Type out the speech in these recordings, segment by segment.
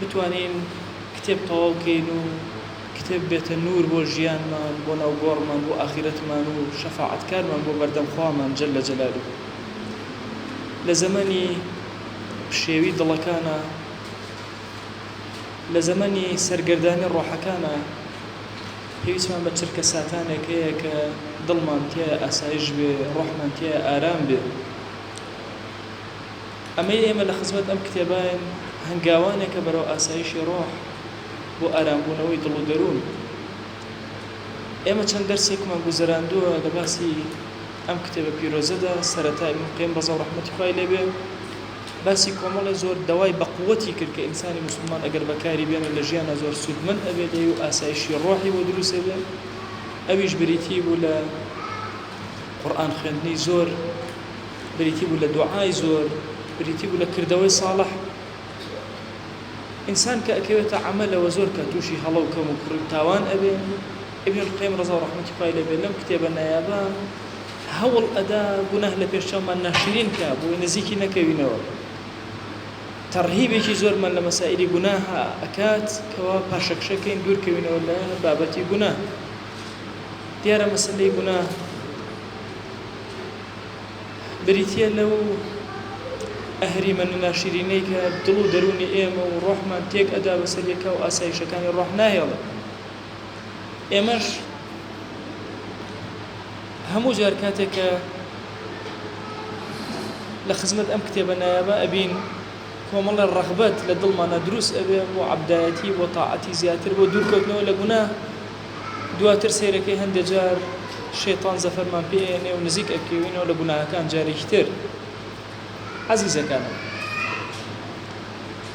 بتوانین کتێب تەواو کەین و کتێب بێتە نوور بۆ ژیانمان بۆ ناو گۆڕمان بۆ ئاخیرەتمان و شەفاعەت کارمان بۆ بەردەم خوامان جل جلالە لە زەمەنی پشێوی دڵەکانا لە زەمەنی سەرگەردانی ڕۆحەکانا پێویستمان بە چرکە ساتانێک هەیە کە دڵمان تیایە ئاسایش بێ ڕۆحمان تیایە ئارام بێ ئەمەی ئێمە لە خزمەت ئەم کتێباین هەنگاوانێکە بەرەو ئاسایشی ڕۆح بۆ ئارامبوونەوەی دڵ و دەروون. ئێمە چەند دەرسێکمان گوزەراندووە لە باسی ئەم کتێبە پیرۆزەدا، سەرەتا ئیبن قەیم ڕەزا و ڕەحمەتی خوای لێ بێ باسی کۆمەڵێ زۆر دەوای بەقوەتی کرد کە ئینسانی موسڵمان ئەگەر بەکاری بێنێ لە ژیانا زۆر سوودمەند ئەبێ لێی و ئاسایشی ڕۆحی بۆ دروست ئەبێ ئەویش بریتی بوو لە قورئان خوێندنی زۆر، بریتی بوو لە دوعای زۆر بریتی بوو لە کردەوەی ساڵح ئینسان کە ئەکەوێتە عەمەلەوە زۆر کە تووشی هەڵە و کەم و کوڕی و تاوان ئەبێ ابن القیم رضا و رحمتی خوای لێ بێ لەم کتێبە نایابە هەوڵ ئەدا گوناه لە پێش چاومان ناشرین کا بۆی نزیکی نەکەوینەوە تەڕهیبێکی زۆرمان لە مەسائلی گوناه ئەکات کەوا پاشەکشەکەین دوورکەوینەوە لە بابەتی گوناه دیارە مەسلەی گوناه بریتییە لەو ئەهریمەن و ناشرینەی کە دڵ و دەروونی ئێمە و ڕۆحمان تێک ئەدا بەسەر یەکا و ئاسایشەکانی ڕۆح ناهێڵێ ئێمەش هەموو جار کاتێک کە لە خزمەت ئەم کتێبە نایابە ئەبین کۆمەڵە ڕەغبەت لە دڵمانە دروست ئەبێ بۆ عەبدایەتی بۆ تاعەتی زیاتر بۆ دوورکەوتنەوە لە گوناه دواتر سەیرەکەی هەندێ جار شەیتان زەفەرمان پێ ئەیەنێ و نزیک ئەکەوینەوە لە گوناهەکان جارێکی تر ئەزیزەکانم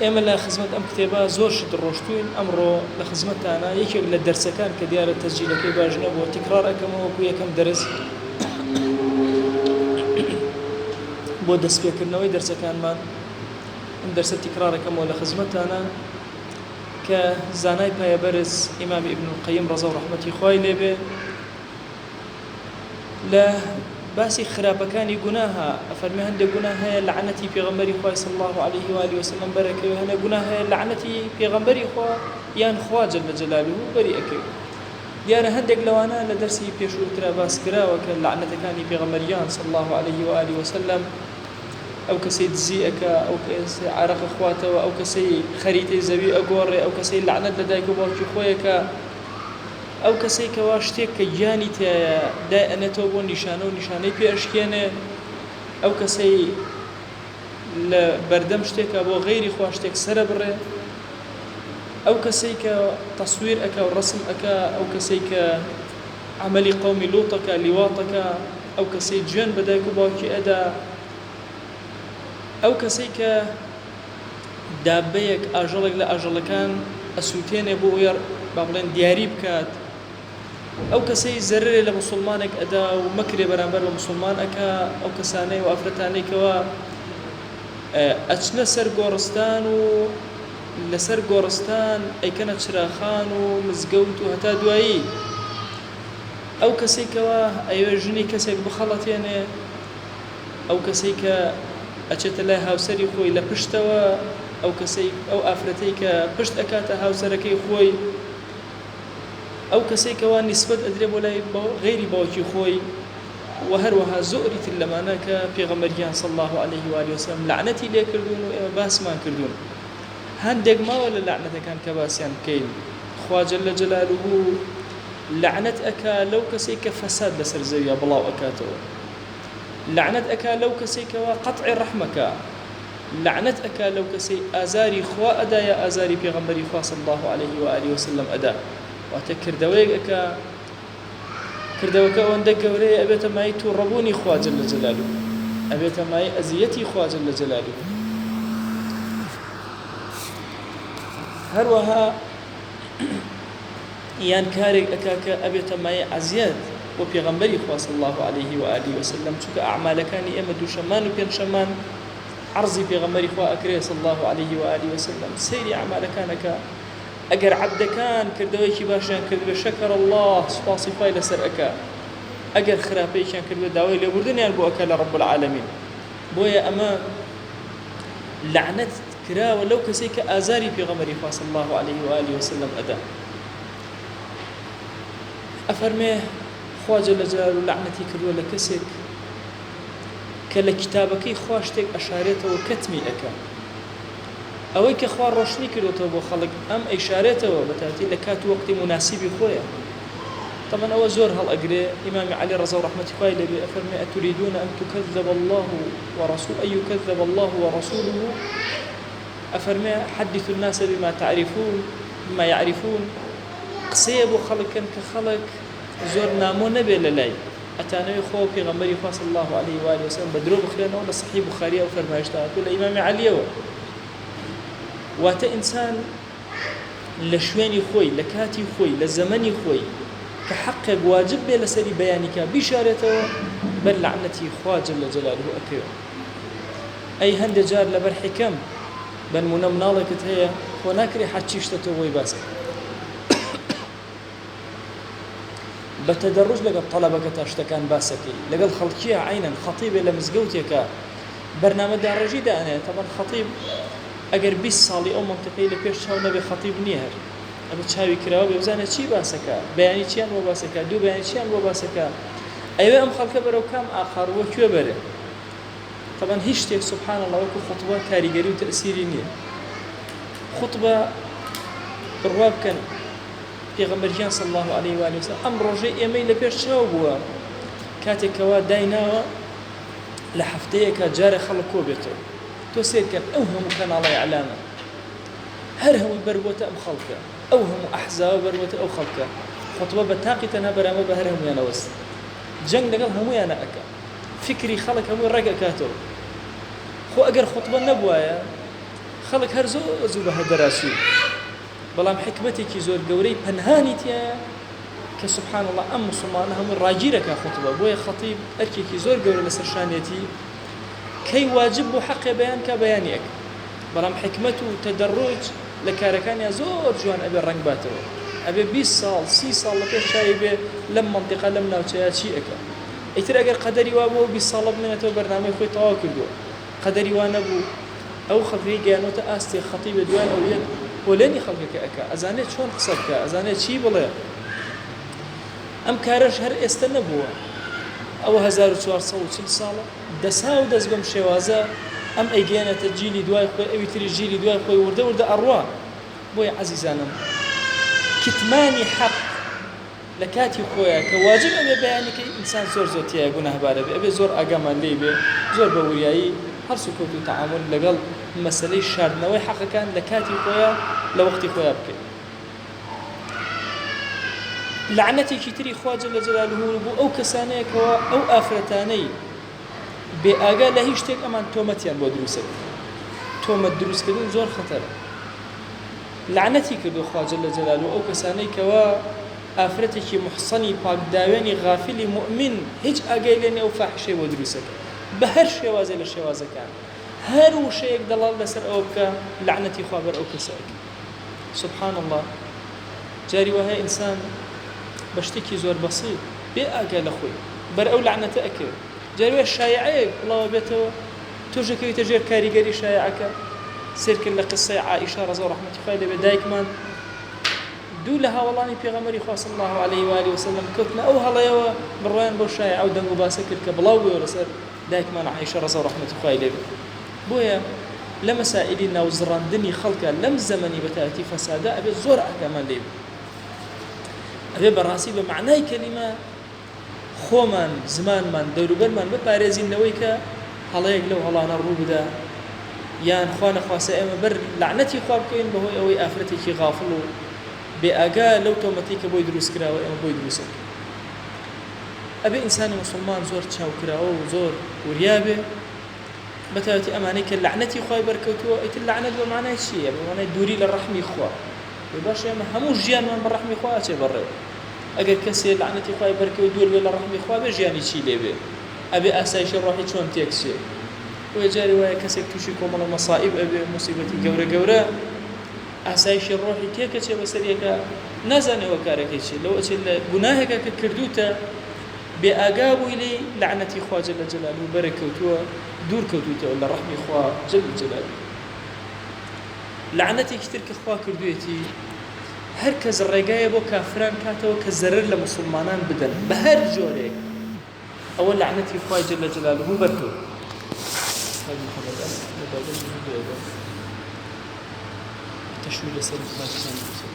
ئێمە لە خزمەت ئەم کتێبە زۆر شت ڕۆشتوین ئەمڕۆ لە خزمەتانە یەکێک لە دەرسەکان کە دیارە تەسجیلەکەی باش نەبووە تیکڕار ئەکەمەوە وەکو یەکەم دەرس بۆ دەستپێکردنەوەی دەرسەکانمان ئەم دەرسە تیکڕارەکەمەوە لە خزمەتانە کە زانای پایە بەرز ئیمام ئیبن القیم ڕەزا و ڕەحمەتی خوای لێبێ لە باسی خراپەکانی گوناها ئەفەرمی هەندێک گونا هەیە لەعنەتی پێغەمبەری خوای صلی الله عليه و آله وسلم بەرەکەوێ هەنە گونا هەیە لەعنەتی پێغەمبەری خوا یان خوا جل جلاله بەری ئەکەوێ دیارە هەندێک لەوانە لە دەرسی پێشووترا باس کراوە کە لەعنەتەکانی پێغەمبەریان صلی الله عليه و آله وسلم ئەو کەسەی دزی ئەکا ئەو کەسەی عارەق ئەخواتەوە ئەو کەسەی خەریتەی زەوی ئەگۆڕێ ئەو کەسەی لەعنەت لە دایک و باوکی خۆی ئەکا ئەو کەسەی کەوا شتێک کە گیانی تیایە دای ئەنێتەوە بۆ نیشانە و نیشانەی پێ ئەشکێنێ ئەو کەسەی لە بەردەم شتێکە بۆ غەیری خوا شتێک سەرە بڕێ ئەو کەسەی کە تەسویر ئەکا و ڕسم ئەکا ئەو کەسەی کە عەمەلی قەومی لوطەکە لیواطەکە ئەو کەسەی جوێن بە دایک و باوکی ئەدا ئەو کەسەی کە دابەیەک ئاژەڵێک لە ئاژەڵەکان ئەسوتێنێ بۆ ئەوەی با بڵێن دیاری بکات ئەو کەسەی زەررێ لە مسلمانێک ئەدا و مەکرێ بەرامبەر بە مسلمان ئەکا ئەو کەسانەی و ئافرەتانێکەوە ئەچنە سەر گۆڕستان و لەسەر گۆڕستان ئەیکەنە چراخان و مزگەوت و هەتا دوایی ئەو کەسەی کەوا ئەیەوێ ژنی کەسێک بخەڵەتێنێ ئەو کەسەی کە ئەچێتە لای هاوسەری خۆی لە پشتەوە ئەو کەسەی ئەو ئافرەتەی کە پشت ئەکاتە هاوسەرەکەی خۆی ئەو کەسەی کەوا نیسبەت ئەدرێ بۆ لای غەیری باوکی خۆی وە هەروەها زۆری تر لەمانە کە پێغەمبەر گیان صلی اللە علیه و آله و سلم لەعنەتی لێکردوون و ئێمە باسمان کردوون. هەندێک ماوە لە لەعنەتەکان کە باسیان بکەین خوا جل جلالوه لەعنەت ئەکا لەو کەسەی کە فەساد لەسەر زەویا بڵاو ئەکاتەوە لەعنەت ئەکا لەو کەسەی کەوا قەتعی ڕەحمەکا لەعنەت ئەکا لەو کەسەی ئازاری خوا ئەدا یا ئازاری پێغەمبەری خوا صلی اللە علیه و آله وسلم ئەدا واتە کردەوەیەک ئەکا کردەوەکە ئەوەندە گەورەیە ئەبێتە مایەی توڕەبوونی خوا جل جلالە ئەبێتە مایەی ئەزیەتی خوا جل جلالە هەروەها یان کارێک ئەکا کە ئەبێتە مایەی عەزیەت بۆ پێغەمبەری خوا صلی الله علیه و آله وسلم چونکە ئەعمالەکانی ئێمە دووشەمان و پێنجشەمان عرضی پێغەمبەری خوا ئەکرێ صلی الله علیه و آله وسلم سەیری ئەعمالەکانەکە ئەگەر عەبدەکان کردەوەیەکی باشیان کردبێ شەکر اللە سوپاسی خوای لەسەر ئەکا ئەگەر خراپەیەکیان کردبێ داوای لێبوردنیان بۆ ئەکا لە رب العالمین بۆیە ئەمە لەعنەت کراوە لەو کەسەی کە ئازاری پێغەمەری خوا صلی الله علیه و آله وسلم ئەدا ئەفەرمێ خوا جل جلاله لەعنەتی کردووە لە کەسێک کە لە کتابەکەی خوا شتێک ئەشارێتەوە کەتمی ئەکا ئەوەی کە خوا ڕۆشنی کردۆتەوە بۆ خەڵک ئەم ئەیشارێتەوە بە تاتی لە کات و وەقتی موناسیبی خۆیە تەبعەن ئەوە زۆر هەڵ ئەگرێ ئیمامی عەلی ڕەزا و ڕەحمەتی خوای لێ بێ ئەفەرموێ ئەتوریدون ئەن تکذب اللە و ڕسو ئەن یکذب اللە و ڕسوله ئەفەرموێ حدثوا الناس بما تعرفون بما یعرفون قسەیە بۆ خەڵک کەن کە خەڵک زۆر نامۆ نەبێ لە لای ئەتانەوێ خوا و پێغەمبەری خوا صلی اللە علیە و آله و سلم بە درۆ بخوێنەوە لە صحیح بخاری ئەو فەرمایشتە هاتووە لە ئیمام علیەوە واتە ئینسان لە شوێنی خۆی لە کاتی خۆی لە زەمەنی خۆی کە حەقێک واجب بێ لەسەری بەیانیکە بیشارێتەوە بەر لەعنەتی خوا جل لە جەلاله ئەکەوێت ئەی هەندێک جار لەبەر حکەم بەنمونە مناڵێکت هەیە خۆ ناکرێ حەچی شتە تۆ بۆی باسکە بە تەدەڕوج لەگەڵ تەڵەبەکەتا شتەکان باسەکەی لەگەڵ خەڵکیە عەینەن خەتیبێ لە مزگەوتێکە بەرنامە داڕێژی دانێ تەبەن خەتیب ئەگەر 20 ساڵی ئەو مەنتەقەی لە پێش چاو نەبێ خەتیب نییە هەر ئەبێ چاوی کراوە بێ بزانێ چی باسەکە بەیانی چیان بۆ باسەکە دوو بەیانی چیان بۆ باسەکە ئەوێ ئەم خەڵکە بەرەو کام ئاقار وە کوێ بەرێ طبعا هیچ شتێک سبحان الله وەکو خطبە کاریگەری و تەسیری نییە خطبە بڕوا بکەن پێغەمبەر گیان صلی اللە علیە و آله وسلم ئەم ڕۆژەی ئێمەی لە پێش چاو بووە کاتێک کەوا دایناوە لە هەفتەیەکە جارە خەڵک کۆ بێتەوە تۆ سێرکەن ئەو هەموو کەناڵی ئەلامە هەر هەمووی بەروەتە ئەم خەڵکە ئەو هەموو ئەحزاوە بەروەتە ئەو خەڵکە خۆتبە بە تاقی تەنها بەرامە بە هەر هەمویانەوەست جەنگ لەگەڵ هەمویانە ئەەکە فکری خەڵک هەمووی ڕێگەکاتەوە خۆ ئەگەر خۆتبە نەبواە خەڵک هەر زۆ زوو بە هەر دەراسوو بەڵام حیکمەتێکی زۆر گەورەی پەنهانی تیایە کە سبحان اللە ئەم موسڵمانە هەمووی ڕاگیر ئەکا خوتبە بۆیە خەتیب ئەرکێکی زۆر گەورە لەسەر شانیەتی کەی واجب بوو حەقێ بەیان کا بەیانی ئەکا بەڵام حیکمەت و تەدەڕوج لە کارەکانیا زۆر جوان ئەبێ ڕەنگ باتەوە ئەبێ بیست ساڵ سی ساڵ لە پێش چاوی بێ لەم مەنتیقە لەم ناوچەیە چی ئەکا ئیتر ئەگەر قەدەری وابوو ئەو بیست ساڵە بمێنێتەوە بەرنامەی خۆی تەواو کردووە قەدەری وا نەبوو ئەو خەفەی گەیانۆتە ئاستێ خەتیب لە دوای ئەو یەت پۆلێنی خەڵکەکە ئەکا ئەزانێ چۆن قسە بکا ئەزانێ چی بڵێ ئەم کارەش هەر ئێستە نەبووە ئەوە هەزار و چوار سەد و چل ساڵە دەسا و دەس بەم شێوازە ئەم ئەیگەیەنێتە جیلی دوای خۆی ئەوی تریش جیلی دوای خۆی وردە وردە ئەڕوا بۆیە عەزیزانم کتمانی حەق لە کاتی خۆیا کە واجب ئەبێ بەیانی کەی ئینسان زۆر زۆر تیایا گوناهبار ئەبێ ئەبێ زۆر ئاگامان لێی بێ زۆر بە وریایی هەڵس و کەوت و تەعامول لەگەڵ مەسەلەی شاردنەوەی حەقەکان لە کاتی خۆیا لە وەقتی خۆیا بکەین لەعنەتێکی تری خوا جل جلالە بۆ ئەو کەسانەیە کەوا ئەو ئافرەتانەی بێ ئاگا لە هیچ شتێک ئەمان تۆمەتیان بۆ دروستە تۆمەت دروستکردن زۆر خەتەرە لەعنەتی کردوە خوا جل جلالە ئەو کەسانەی کەوا ئافرەتێکی موحسەنی پاک داوێنی غافلی موئمین هیچ ئاگای لێ نیە و فاحیشەی بۆ دروست ئەکا بەهەر شێوازێ لە شێوازەکان هەر وشەیەک دەڵال لەسەر ئەوە بکا لەعنەتی خوا بەر ئەو کەسە ئەکا سبحان اللە جاری وەهەیە ئینسان بە شتێکی زۆر بەسیت بێ ئاگا لە خۆی بەر ئەو لەعنەتە ئەکەوێت جاری وەیە شایعەیەک بڵاوە بێتەوە تۆش دەکەویتە ژێر کاریگەری شایعەکە سەیرکە لە قسەی عائیشە ڕەزا و ڕەحمەتی خوای لێ بێت دایکمان دوو لە هاوەڵانی پێغەمبەری خوا صلی الله علیه و آله و سلم کەوتنە ئەو هەڵەیەوە بڕوایان بەو شایعە و دەنگ و باسە کرد کە بڵاو بووەوە لەسەر دایکمان عائیشە ڕەزا و ڕەحمەتی خوای لێ بێت بۆیە لە مەسائیلی ناوزڕاندنی خەڵکە لەم زەمەنی بەتایەتی فەسادە ئەبێت زۆر ئاگامان لێ بێت ئەبێت بەڕاستی بە مەعنای کەلیمە خۆمان، زمانمان، دەوروبەرمان بپارێزین لەوەی کە هەڵەیەک لەو هەڵانە ڕووبدا یان خوانەخواستە ئێمە بەر لەعنەتی خوا بکەوین بەهۆی ئەوەی ئافرەتێکی غافڵ و بێ ئاگا لەو تۆمەتەی کە بۆی دروست کراوە ئێمە بۆی دروست ئەکەین. ئەبێ ئینسانی موسڵمان زۆر چاوکراوە و زۆر وریا بێ بەتایبەتی ئەمانەی کە لەعنەتی خوای بەرکەوتووە، ئیتر لەعنەت بە مەعنای چییە؟ بە مەعنای دووری لە ڕەحمی خوا. ئەی باشە ئێمە هەموو ژیانمان بە ڕەحمی خوا ئەچێ بەڕێوە ئەگەر کەسێ لەعنەتی خوای بەرکەوێ دوور بێ لە ڕەحمی خوا بێ ژیانی چی لێ بێ ئەبێ ئاسایشی ڕۆحی چۆن تێک چێ بۆیە جارێ وایە کەسێک تووشی کۆمەڵە مەسائیب ئەبێ موسیبەتی گەورە گەورە ئاسایشی ڕۆحی تێکە چێ بەسەر یەکە نازانێ ئەوە کارەکەی چێ لەوە چێ لە گوناهێکە کە کردوتە بێ ئاگا بووی لێی لەعنەتی خوا جل جلال و بەرە کەوتووە دوور کەوتوتەوە لە ڕەحمی خوا جل جلال لەعنەتێکی تر کە خوا کردویەتی هەر کەس ڕێگایە بۆ کافران کاتەوە کە زەرەر لە موسڵمانان بدەن بە هەر جۆرێک ئەوە لەعنەتی خوای جل جلاله بەر کەوت استاذ محمد ام مبادر جنو بيدا تشوي لسر مقاتلان بسر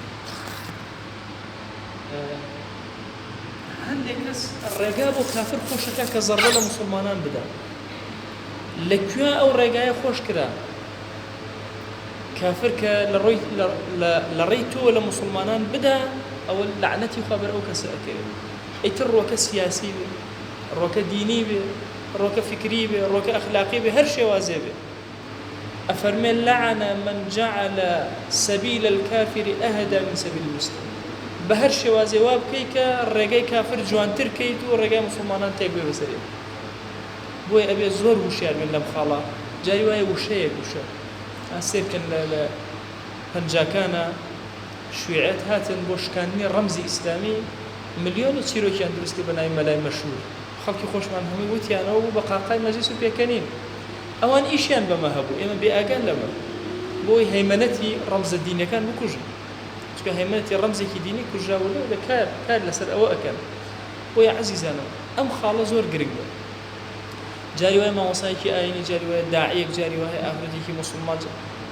هەندێک کەس ڕێگا بۆ کافر خۆشەکە کە زەڕە لە مسلمانان بدا لە کوێ ئەو ڕێگایە خۆش کرا کافر کە لە ڕێی تۆوە لە موسڵمانان بدا ئەوە لەعنەتی خوا بەر ئەو کەسە ئەکەوێت ئیتر ڕۆکە سیاسی بێ ڕۆکە دینی بێ ڕۆکە فکری بێ ڕۆکە ئەخلاقی بێ هەر شێوازێ بێ ئەفەرمێ لەعەنە من جعل سەبیل الكافر ئەهدا من سەبیل المسلم بە هەر شێوازێ وا بکەی کە ڕێگەی کافر جوانتر کەیت و ڕێگای مسلمانان تێک بێ بەسەرێ بۆیە ئەبێ زۆر ووشیار بین لەم خاڵە جاری وایە ووشەیەک ووشە ئا سەیر کەن لە لە پەنجاکانا شویعەت هاتن بۆ شکاندنی ڕەمزی ئیسلامی ملیۆنی چیرۆکیان دروست کرد بە ناوی مەلای مەشهور خەڵکی خۆشمان هەمووی ووتیانەوە بوو بە قاقای مەجلیس و پێکەنین ئەوان ئیشیان بەمە هەبوو ئێمە بێ ئاگان لەمە بۆ ئەوەی هەیمەنەتی ڕەمزە دینیەکان بکوژن چونکە هەیمەنەتی ڕەمزێکی دینی کوژراوە لێرە کار کار لەسەر ئەوە ئەکەن بۆیە عەزیزانم ئەم خاڵە زۆر گرنگە جاری وایە مامۆسایەکی ئاینی جاری وایە داعیەک جاری وایە ئافرەتێکی موسڵمان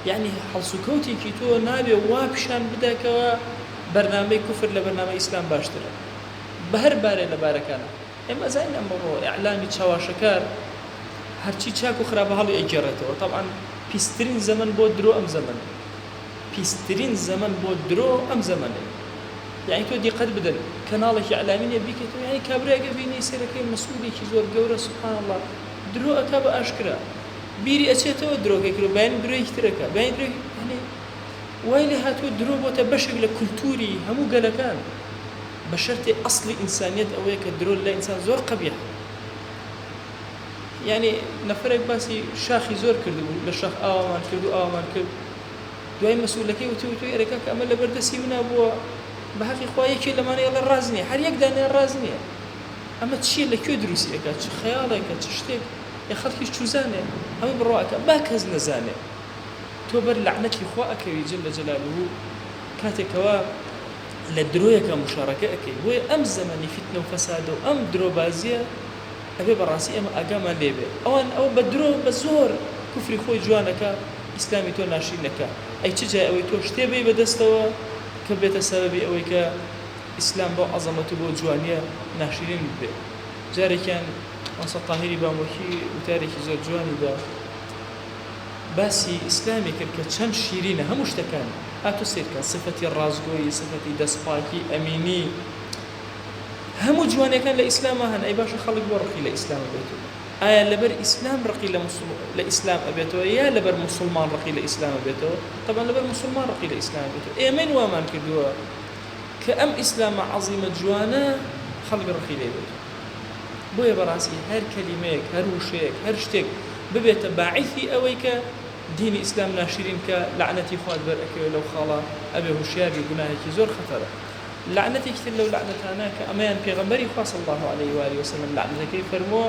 یعنی هەڵسوکەوتێکی تۆ نابێ وا پیشان بداکەوە بەرنامەی کوفر لە بەرنامە ئیسلام باشترە بە هەر بارێ لە بارەکانە ئێمە زانین ئەمڕۆ ئەعلامی چاواشەکار هەرچی چاک و خراپە هەڵی ئەگێڕێتەوە تەبعاً پیسترین زەمن بۆ درۆ ئەم زەمن پیسترین زەمەن بۆ درۆ ئەم زەمەنەیە یانی تۆ دیقەت بدەن کەناڵێکی ئیعلامی نیە بیکەیتەوە یانی کابرایەک ئەبینی سەرەکەی مسعودێکی زۆر گەورە سبحان اللە درۆ ئەکا بە ئاشکرا بیری ئەچێتەوە درۆکەی کردوە بەیانی درۆیەکی تر ئەکا بەیانی درۆی یانی وای لێ هاتووە درۆ بۆتە بەشێک لە کولتووری هەموو گەلەکان بە شەرتێ ئەسڵی ئینسانیەت ئەوەیە کە درۆ لای ئینسان زۆر قەبیحە. یانی نەفەرێک باسی شاخی زۆر کردبوو لە شاخ ئاوامان کرد و ئاوامان کرد دوای مەسئولەکەی وتی وتوی ئەرێ کاکە ئەمە لەبەر دەستی منا بووە بە هەقی خوا یەکێ لەمانە ئێڵێ ڕاست نییە هەر یەک دانیان ڕاست نییە ئەمە چییە لە کوێ دروستی ئەکات چ خەیاڵێکە چ شتێک یە خەڵکیش چوزانێ هەمووی بڕوا ئەکا با کەس نەزانێ تۆ بەر لەعنەتی خوا ئەکەوی جل جلاله کاتێک کەوا لە درۆیەکە مشارەکە ئەکەی بۆیە ئەم زەمەنی فیتنە و فەسادە و ئەم درۆبازیە ئەبێ بەڕاستی ئێمە ئاگامان لێ بێ ئەوان ئەوە بە درۆ بە زۆر کفری خۆی جوان ئەکا ئیسلامی تۆ ناشرین ئەکا ئەی چ جای ئەوەی تۆ شتێ بەی بە دەستەوە کە بێتە سەبەبی ئەوەی کە ئیسلام بەو عەزەمەت و بەو جوانیە ناشرین ببێ جارێکیان مامۆستا تاهیری بامۆکی وتارێکی زۆر جوانی بە باسی ئیسلامی کرد کە چەند شیرینە هەموو شتەکانی هاتوو سەیرکە سفەتی ڕاستگۆیی سفەتی دەست پاکی ئەمینی هەموو جوانیەکان لە ئیسلاما هەن ئەی باشە خەڵک بۆ ڕقی لە ئیسلام ئەبێتو ئایا لەبەر ئیسلام ڕقی لە مسوڵ لە ئیسلام ئەبێتەوە یا لەبەر مسلمان ڕقی لە ئیسلام ئەبێتەوە طبعا لەبەر مسلمان ڕقی لە ئیسلام ئەبێتەوە ئێمەین وامان کردووە کە ئەم ئیسلامە عەزیمە جوانە خەڵک ڕقی لێ بێت بۆیە بەڕاستی هەر کەلیمەیەک هەر وشەیەک هەر شتێک ببێتە باعیثی ئەوەی کە دینی ئیسلام ناشرین کە لەعنەتی خوات بەر ئەکەوێت لەو خاڵە ئەبێ هوشیار بی گوناهێکی زۆر خەتەرە لەعنەتێکی تر لەو لەعنەتانە کە ئەمەیان پێغەمبەری خوا صلی اللە علیە و آله وسلم لەعنەتەکەی فەرمووە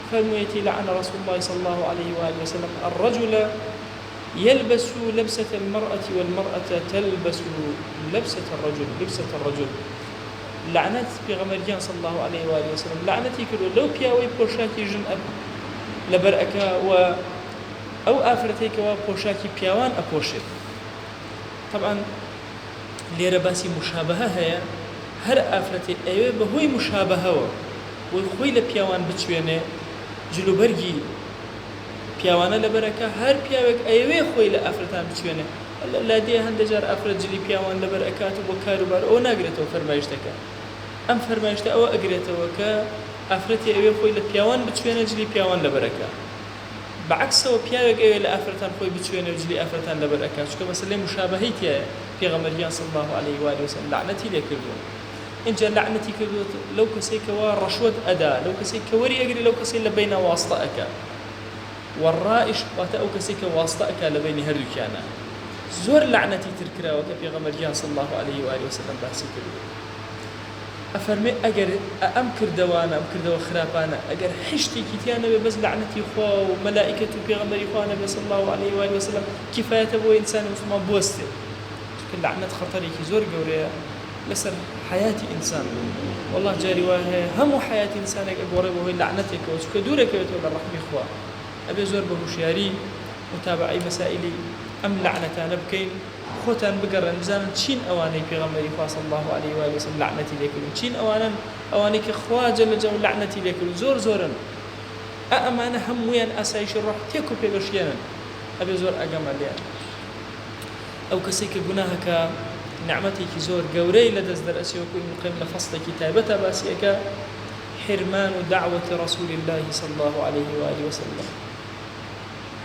فەرموویەتی، لعن رسول اللە صلی اللە علیە و آله وسلم الرجل یلبس لبسە المرء و المرء تلبس لبسە الرجل لبسە الرجل لەعنەت پێغەمبەر گیان صلی اللە علیە و آله وسلم لەعنەتی کردووە لەو پیاوەی پۆشاکی ژن لەبەر ئەکا و ئەو ئافرەتێکەوە پۆشاکی پیاوان ئەپۆشێت طبعا لێرە باسی موشابەهە هەیە، هەر ئافرەتێ ئەیەوێ بە هۆی موشابەهەوە بۆی خۆی لە پیاوان بچوێنێ، جل و بەرگی پیاوانە لەبەر ئەکا، هەر پیاوێک ئەیەوێ خۆی لە ئافرەتان بچوێنێ، اللە لادێ هەندێ جار ئافرەت جلی پیاوان لەبەر ئەکات و بۆ کار و بار ئەوە ناگرێتەوە فەرمایشتەکە ئەم فەرمایشتە ئەوە ئەگرێتەوە کە ئافرەتێ ئەوێ خۆی لە پیاوان بچوێنێ جلی پیاوان لەبەر ئەکا. بە عەکسەوە پیاوێک ئەوێ لە ئافرەتان خۆی بچوێنێ و جلی ئافرەتان لەبەر ئەکا چونکە مەسەلەی موشابەهەی تیایە پێغەمبەر گیان صلی اللە علیە و آله وسلم لەعنەتی لێ کردووە ئینجا لەعنەتی کردووە لەو کەسەی کەوا ڕەشوەت ئەدا لەو کەسەی کە وەری ئەگرێ لەو کەسەی لە بەینا واستە ئەکا وەڕائش واتە ئەو کەسەی کە واستە ئەکا لە بەینی هەردووکیانا زۆر لەعنەتی تر کراوە کە پێغەمبەر گیان صلی اللە علیە و آله وسلم باسی کردووە ئەفەرمێ ئەگەر ئە ئەم کردەوانە ئەم کردەوە خراپانە ئەگەر حیشتێکی تیا نەبێ بەس لەعنەتی خوا و مەلائیکەت و پێغەمبەری خوا نەبێ صلی اللە و علیە و آلە و سلم کیفایەتە بۆ ئینسانی موسڵمان بوەستێ چونکە لەعنەت خەتەرێکی زۆر گەورەیە لەسەر حەیاتی ئینسان وەڵا جاری وایە هەیە هەموو حەیاتی ئینسانێک ئەگۆڕێ بەهۆی لەعنەتێکەوە چونکە دوورەکەوێتەوە لە ڕەحمی خوا ئەبێ زۆر بە هوشیاری متابەعەی مەسائیلی ئەم لەعنەتانە بکەین. خۆتان بگەڕێن بزانن چین ئەوانەی پێغەمبەری خوا صلی اللە علیە و آله وسلم لەعنەتی لێکردون چین ئەوانەن ئەوانەی کە خوا جل جە لەعنەتی لێکردون زۆر زۆرن ئا ئەمانە هە موویان ئاسایشی ڕۆح تێک و پێگەشلێنن ئەبێ زۆر ئەگەمە لێیان ئەو کەسەی کە گوناهە کە نعمەتێکی زۆر گەورەی لە دەست دەرئەچێ وەکو ابن القیم لە فەصلێکی تایبەتە باسی ئەکا حرمان دعوة رسول الله صلی الله علیه و آله وسلم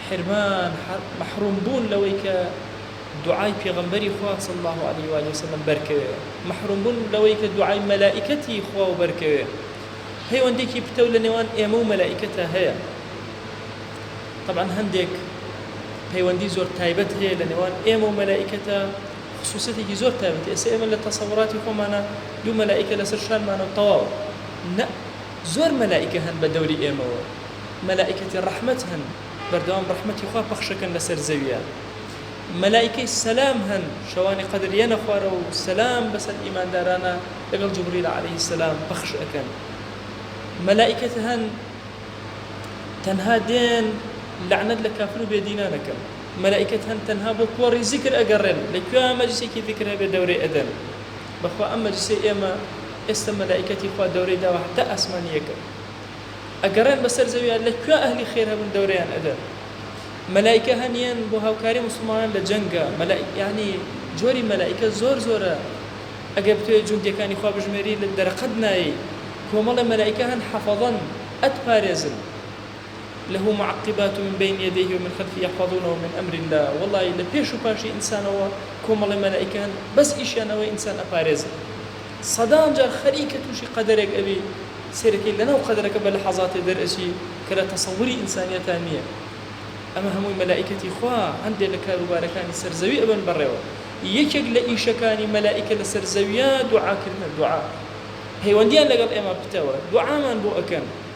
حرمان، مەحروم بوون لەوەی کە دوعای پێغەمبەری خوا صلی اللە علیە و آله وسلم بەرکەوێ، مەحروم بوون لەوەی کە دوعای مەلائیکەتی خواو بەرکەوێ، پەیوەندێکی پتەو لە نێوان ئێمە و مەلائیکەتا هەیە، تەبعەن هەندێک پەیوەندی زۆر تایبەت هەیە لە نێوان ئێمە و مەلائیکەتا، خصوصەتێکی زۆر تایبەتی، ئێستا ئێمە لە تەسەوراتی خۆمانا دوو مەلائیکە لەسەر شانمانە و تەواو، نە، زۆر مەلائیکە هەن بە دەوری ئێمەوە مەلائیکەتی ڕەحمەت هەن بەردەوام ڕەحمەتی خوا پەخشەکەن لەسەر زەویا مەلائیکەی سەلام هەن شەوانی قەدر یەنە خوارەوە و سەلام بەسەر ئیماندارانە لەگەڵ جبریل علیه سەلام پەخش ئەکەن مەلائیکەت هەن تەنها دێن لەعنەت لە کافر و بێدینان ئەکەن مەلائیکەت هەن تەنها بۆ کۆڕی زیکر ئەگەڕێن لە کوێ مەجلیسێکی زیکر هەبێ دەورەی ئەدەن بەخوا ئەم مەجلیسەی ئێمە ئێستا مەلائیکەتی خوا دەورەی داوە هەتا ئاسمانی یەکەم ئەگەڕێن بەسەر زەویا لە کوێ ئەهلی خێر هەبن دەورەیان ئەدەن مەلائیکە هەن یەن بۆ هاوکاری موسڵمانان لە جەنگا مەلائیک یانی جۆری مەلائیکە زۆر زۆرە ئەگەر بتوێ جوندیەکانی خوا بژمێری لە دەرەقەت نایەی کۆمەڵێ مەلائیکە هەن حەفەزەن ئەتپارێزن. لە معقبات من بین یدیه ومن خلفه یحفظونه من امر اللە وەڵا ی لە پێش و پاشی ئینسانەوە کۆمەڵێ مەلائیکە هەن بەس ئیشیان ئەوەیە ئینسان ئەپارێزن سەدان جار خەریکە توشی قەدەرێک ئەبی سەیرەکەی لە ناو قەدەرەکە بە لەحەزاتێ دەر ئەچی کە لە تەسەوری ئینسانیەتا نیە ئەمە هەمووی مەلائیکەتی خوا هەندێ لە کاروبارەکانی سەر زەوی ئەبەن بەڕێوە یەکێک لە ئیشەکانی مەلائیکە لە سەر زەویا دوعا کردنە دوعا پەیوەندیان لەگەڵ ئێمە پتەوە دوعامان بۆ ئەکەن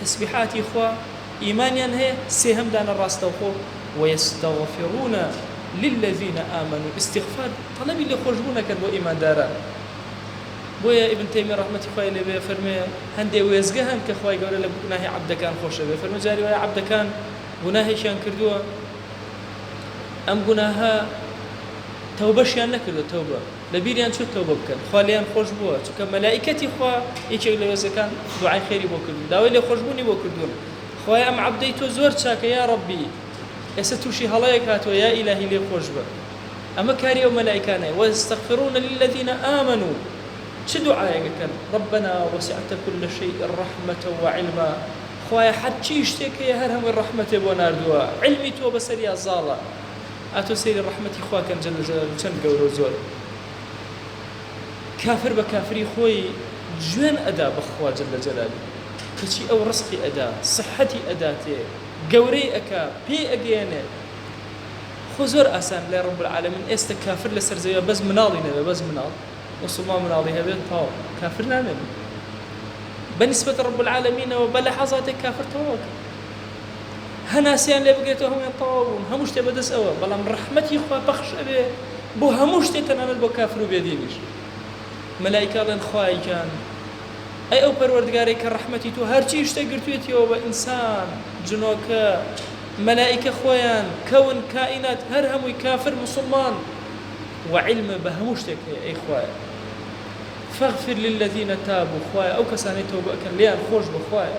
تەسبیحاتی خوا، ئیمانیان هەیە، سێهەم دانە ڕاستەوخۆ، ویستغفرون للذین آمنوا ئیستیغفار تەڵەبی لێخۆشبوون ئەکەن بۆ ئیمانداران بۆیە ئیبن تەیمیە ڕەحمەتی خوای لێ بێ ئەفەرموێ هەندێ وێستگە هەن کە خوای گەورە لە گوناهی عەبدەکان خۆش ئەبێ ئەفەرموێ جاری وایە عەبدەکان گوناهێکیان کردووە ئەم گوناهە تەوبەشیان نەکردووە تەوبە لەبیریان چووە تۆبە بکەن خوا لێیان خۆش بووە چونکە مەلائیکەتی خوا یەکێک لە وێستگەکان دوعای خێری بۆ کردوون داوای لێخۆشبوونی بۆ کردوون خوایە ئەم عەبدەی تۆ زۆر چاکە یا ڕەبی ئێستا تووشی هەڵەیەک هاتووە یا ئیلاهی لێ خۆش بە ئەمە کاری ئەو مەلائیکانەیە وەیستەغفروون للذین آمنوا چ دوعایەک ئەکەن ڕەبەنا وەسیعتە کولە شەیء ڕەحمەتە وعیلما خوایە هەرچی شتێک هەیە هەر هەمووی ڕەحمەتێ بۆ ناردووە عیلمی تۆ بەسەریا زاڵە ئاتۆ سەیری ڕەحمەتی خوا کەن جەللە جەلالو چەند گەورەو زۆر کافر بە کافری خۆی جوێن ئەدا بە خوا جەللە جەلالو کەچی ئەو ڕزقی ئەدا سحەتی ئەداتێ گەورەی ئەکا پێی ئەگەیەنێ خۆ زۆر ئاسان لای ڕب العالمین ئێستە کافر لەسەر زەویا بەس مناڵی نەبێ بەس مناڵ موسڵمان مناڵی هەبێت تەواو کافر نامێنێ بە نیسبەت ڕب العالمینەوە بە لەحەزاتێک کافر تەواو ئەکا. هەناسەیان لێ بگرێتەوە هەموویان تەواو بوون هەموو شتێ بەدەست ئەوە بەڵام ڕەحمەتی خوا پەخش ئەبێ بۆ هەموو شتێ تەنانەت بۆ کافر و بێدینیش مەلایکە ئەڵێن خوای گیان ئەی ئەو پەروەردگارەی کە ڕەحمەتی تۆ هەرچی شتێ گرتوێتیەوە بە ئینسان جنۆکە مەلایکە خۆیان کەون کائینات هەر هەمووی کافر مسلمان وعلم بە هەموو شتێک هەیە ئەی خوایە فاغفر للذین تابوا خوایە ئەو کەسانەی تەوبە ئەکەن لێیان خۆش بە خوایە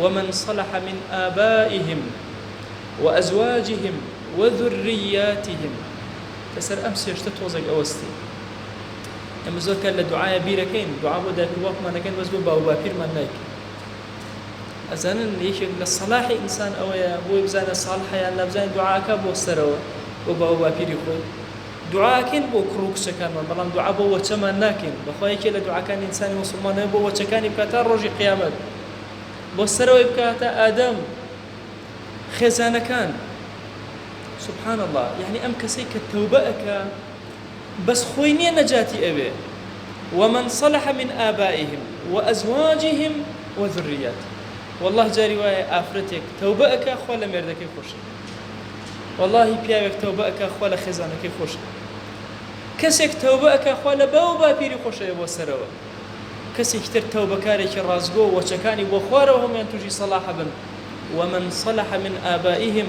ومن صلح من آبائهم وازواجهم وذریاتهم کە سەر ئەم سێ شتە تۆزێک ئەوەستی ئێمە زۆر کار لە دوعاە بیرەکەین دوعا بۆ دایک و باوکمان دەکەین بەس بۆ باو باپیرمان نایکەین ئەزانن یەکێک لە سەلاحی ئینسان ئەوەیە بۆی بزانە ساڵ حەیان لەبزانین دوعاکە بۆ سەرەوە بۆ باو باپیری خۆی دوعاکەین بۆ کوڕ و کچەکانمان بەڵام دوعا بۆ وەچەمان ناکەین بەخوایەکێ لە دوعاکانی ئینسانی مسلمانەوە بۆ وەچەکانی بکە تا ڕۆژی قیامەت بۆ سەرەوەی بکاتە ئادەم خێزانەکان سبحان الله یعنی ئەم کەسەی کە تەوبە ئەکا بەس خۆی نییە نەجاتی ئەوێ ومن صلح من آبائهم وأزواجهم وذريات والله جاری وایە ئافرەتێک تەوبە ئەکا خوا لە مێردەکەی خۆشە واللهی پیاوێک تەوبە ئەکا خوا لە خێزانەکەی خۆشە کەسێک تەوبە ئەکا خوا لە باو باپیری خۆشەیە بۆ سەرەوە کەسێکی تر تەوبەکارێکی ڕاستگۆ و وەچەکانی بۆ خوارەوە هەموویان تووشی صلاح بن، ومن صلح من آبائهم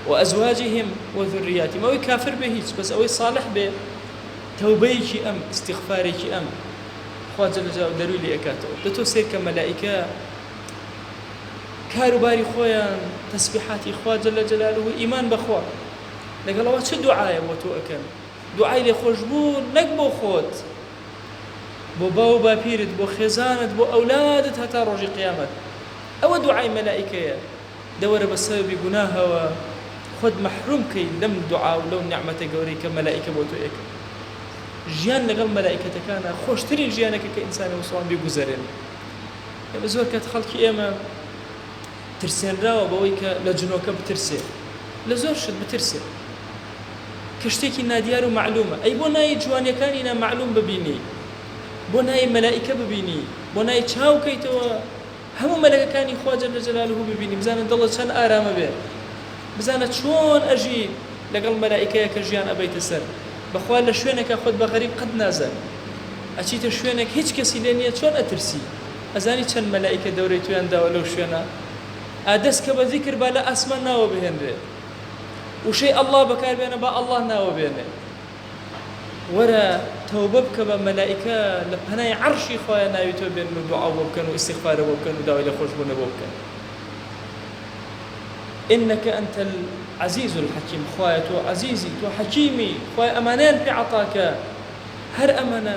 وازواجهم وذریاتهم ئەوەی کافر بێ هیچ بەس ئەوەی صالح بێ تەوبەیەکی ئەم استغفارێکی ئەم خوا جل جلالە دەرووی لێ ئەکاتەوە دە تۆ سەیرکە مەلائیکە کار و باری خۆیان تەسبیحاتی خوا جل جلاله و ئیمان بەخوا لەگەڵەوە چ دوعایە بۆ تۆ ئەکەن دوعای لێخۆشبوو نەک بۆ خۆت بۆ باو و باپیرت بۆ خێزانت بۆ ئەولادت هەتا ڕۆژی قیامەت ئەوە دوعای مەلائیکەیە لەوەرە بە سەبەبی گوناهەوە خۆت مەحروم کەی لەم دوعا و لەو نیعمەتە گەورەی کە مەلائیکە بۆ تۆ ئەکەن ژیان لەگەڵ مەلائیکەتەکانا خۆشترین ژیانە کە کە ئینسانی موسڵمان بیگوزەرێنێ ئێمە زۆر کات خەڵکی ئێمە ترسێنراوە بەوەی کە لە جنۆکە بترسێ لە زۆر شت بترسێ کە شتێکی نادیار و مەعلومە ئەی بۆ نایی جوانیەکانی نا مەعلوم ببینی بۆ نایی مەلائیکە ببینی بۆ نایی چاو کەیتەوە هەموو مەلەکەکانی خوا جل جلالە ببینی بزانە دڵت چەند ئارامە بێ بزانە چۆن ئەژی لەگەڵ مەلائیکەیە کە ژیان ئەبەیتە سەر بەخوا لە شوێنێکا خۆت بە غەریب قەت نازانی ئەچیتە شوێنێک هیچ کەسی لێ نیە چۆن ئەترسی. ئەزانی چەند مەلائیکە دەورەی تۆیان داوە لەو شوێنە؟ ئا دەست کە بە زیکر با لە ئاسمان ناوە بهێنرێ. وشەی اللە بەکار بێنە با اللە ناوە بێنێ. وەرە تەوبە بکە با مەلائیکە لە پەنای عەڕشی خوایە ناوی تۆ بێنن و دوعاو بۆ بکەن و ئیستیغفارە بۆ بکەن و داوای لێ خۆشبوونە بۆ بکەن. انک انت العزیز الحکیم، خوایە تۆ عەزیزی، تۆ حەکیمی، خوایە ئەمانەیان پێ عەتاکە. هەر ئەمەنە.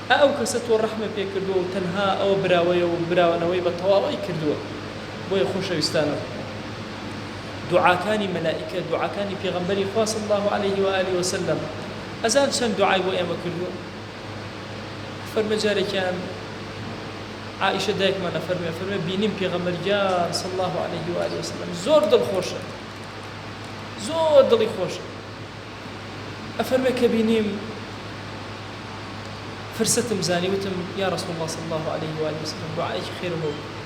ئا ئەو کەسە تۆ ڕەحمە پێ کردووە و تەنها ئەوە براوەیە و براوەنەوەی بە تەواوەی کردووە بۆیە خۆشەویستانم دوعاکانی مەلائیکە دوعاکانی پێغەمبەری خوا صلی اللە علیه و آله و سلم ئەزان چەند دوعای بۆ ئێمە کردووە فەرموێ جارێکیان عائشە دایکمان ئەفەرموێ فەرموێ بینیم پێغەمبەر گیان صلی اللە علیه و آله و سلم زۆر دڵخۆشە زۆر دڵی خۆشە ئەفەرمێ کە بینیم فرسەتم زانی وتم یا رسول اللە صلی اللە علیە و آله و سلم دوعایەکی خێرم بۆ بکە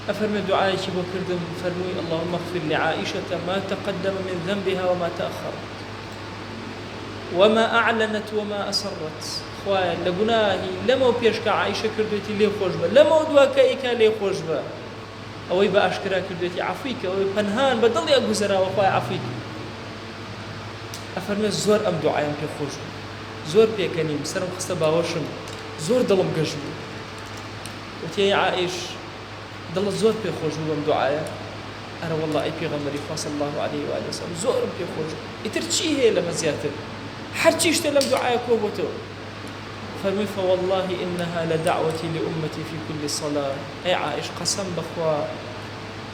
ئەفەرمێ دوعایەکی بۆ کردم فەرمووی اللهم اغفر لعائشة ما تقدم من ذنبها وما تأخر وما اعلنت وما اسرت خوایە لە گوناهی لەمەو پێش کە عائشە کردوێتی لێ خۆش بە لەمەو دوا کە ئیکا لێ خۆش بە ئەوەی بە ئاشکرا کردوێتی عەفوی کە ئەوەی پەنهان بە دڵیا گوزەراوە خوایە عەفوی کە ئەفەرمێ زۆر ئەم دوعایەم پێ خۆش بوو زۆر پێکەنیم سەرم خستە باوەشم زۆر دڵم گەش بوو وتی ئەی عائش دڵت زۆر پێ خۆش بوو بەم دوعایە ئەرە والله ئەی پێغەمبەری خوا صلی الله علیه و آله وسلم زۆرم پێ خۆش بوو ئیتر چی هەیە لەمە زیاتر هەر چی شتە لەم دوعایە کۆ بۆتەوە فەرمووی فوالله انها لدعوتي لامتي في كل صلاه ئەی عائش قەسەم بەخوا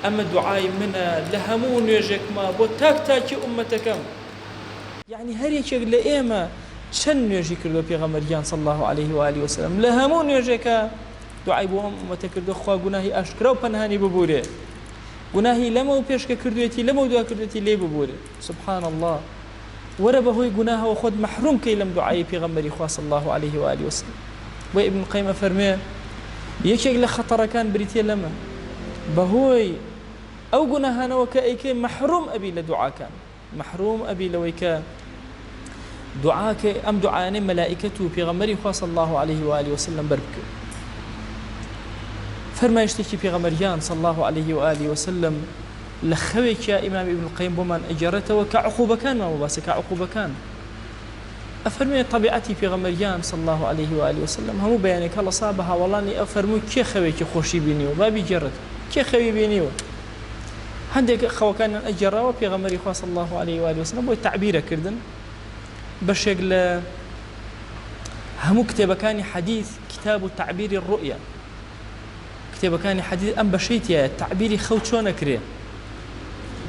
ئەمە دوعای منە لە هەموو نوێژێکما بۆ تاک تاکی ئوممەتەکەم. یەعنی هەر یەکێک لە ئێمە چەند نوێژی کردووە پێغەمبەر گیان صلی اللە علیه و آله وسلم لە هەموو نوێژێکا دوعای بۆ ئەم ئوممەتە کردووە خوا گوناهی ئاشکرا و پەنهانی ببورێ گوناهی لەمەو پێش کە کردوویەتی لەمەو دوا کردوویەتی لێی ببورێ. سبحان اللە وەرە بەهۆی گوناهەوە خۆت مەحروم کەی لەم دوعای پێغەمبەری خوا صلی الله علیه و آله وسلم بۆ ابن قیم ئەفەرمێ یەکێک لە خەتەڕەکان بریتە لەمە بەهۆی ئەو گوناهانەوە کە ئەیکەی مەحروم ئەبی لە دوعاکان مەحروم ئەبی لەوەی کە دوعاکە ئەم دوعاانەی مەلائکەت و پێغەمەری خوا صلی الله عليه و آله وسلم بەر بکەی فەرمایشتێکی پێغەمەریان صلی الله عليه و آله وسلم لە خەوێکیا ئیمام ابن القیم بۆمان ئەگێڕێتەوە کە عقوبەکانمان بۆ باسە کە عقوبەکان ئەفەرمێ طبیعەتی پێغەمبەرگیان صلی الله علیه و آله وسلم هەموو بەیانێک هەڵەسا بە هاوەڵانی ئەفەرموو کێ خەوێکی خۆشی بینیوە با بیگێڕێت کێ خەوی بینیوە هەندێک خەوەکانیان ئەگێڕاوە پێغەمبەری خوا صلی الله علیه و آله وسلم بۆی تعبیرە کردن بەشێک لە هەموو کتێبەکانی حەدیث کتاب و تعبیری الرؤیا کتێبەکانی حەدیث ئەم بەشەی تیایە تەعبیری خەو چۆن ئەکرێ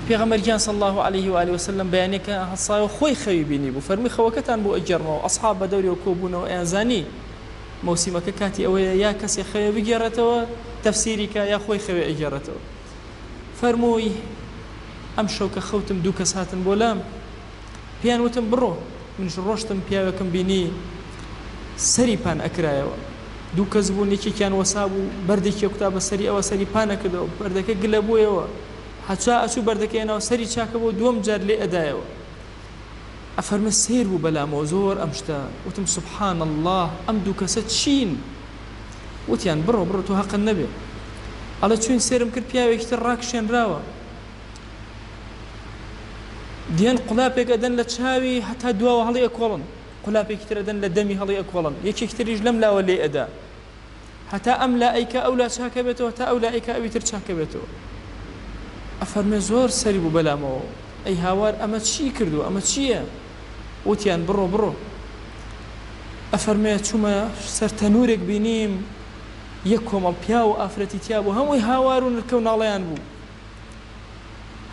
پێغەمبەر گیان صلی الله علیه و آله وسلم بەیانێکە هەڵسایەوە خۆی خەوی بینی بوو فەرمی خەوەکەتان بۆ ئەگێڕمەوە ئەصحاب بە دەورەوە کۆبوونەوە ئەیان زانی مەوسیمەکە کاتی ئەوەیە یا کەسێ خەوێ بگێڕێتەوە تەفسیری کە یا خۆی خەوێ ئەگێڕێتەوە فەرمووی ئەم شەو کە خەوتم دوو کەس هاتن بۆ لام پێیان وتم بڕۆ، منیش ڕۆشتم پیاوێکم بینی سەری پان ئەکرایەوە دوو کەس بوون یەکێکیان وەسابوو بەردێکی ئەکوتا بە سەری ئەوە سەری پان ئەکردەوە بەردەکە گلە بوویەوە هەچا ئەچوو بەردەکەی ئەناو سەری چاکە بۆ دووەم جار لێ ئەدایەوە ئەفەرمێ سەیر بوو بەلامەوە زۆر ئەم شتە وتم سبحان اللە ئەم دوو کەسە چین وتیان بڕۆ بڕۆ تۆ هەقن نەبێ ئەڵێ چوین سێرم کرد پیاوێکی تر ڕاکشێنراوە دیان قولاپێک ئەدەن لە چاوی هەتا دواوە هەڵی ئەکۆڵن قولاپێکی تر ئەدەن لە دەمی هەڵی ئەکۆڵن یەکێک تریش لەم لاوە لێ ئەدا هەتا ئەم لا ئەیکە ئەو لا چاکە بێتەوە تا ئەو لا ئەیکە ئەوی تر چاکە بێتەوە ئەفەرمێ زۆر سەری بوو بەلامەوە ئەی هاوار ئەمە چی کردو ئەمە چییە وتیان بڕۆ بڕۆ ئەفەرمێ چوومە سەر تەنورێک بینیم یەک کۆمەڵ پیا و ئافرەتی تیا بوو هەمووی هاوار و نرکە و ناڵیان بوو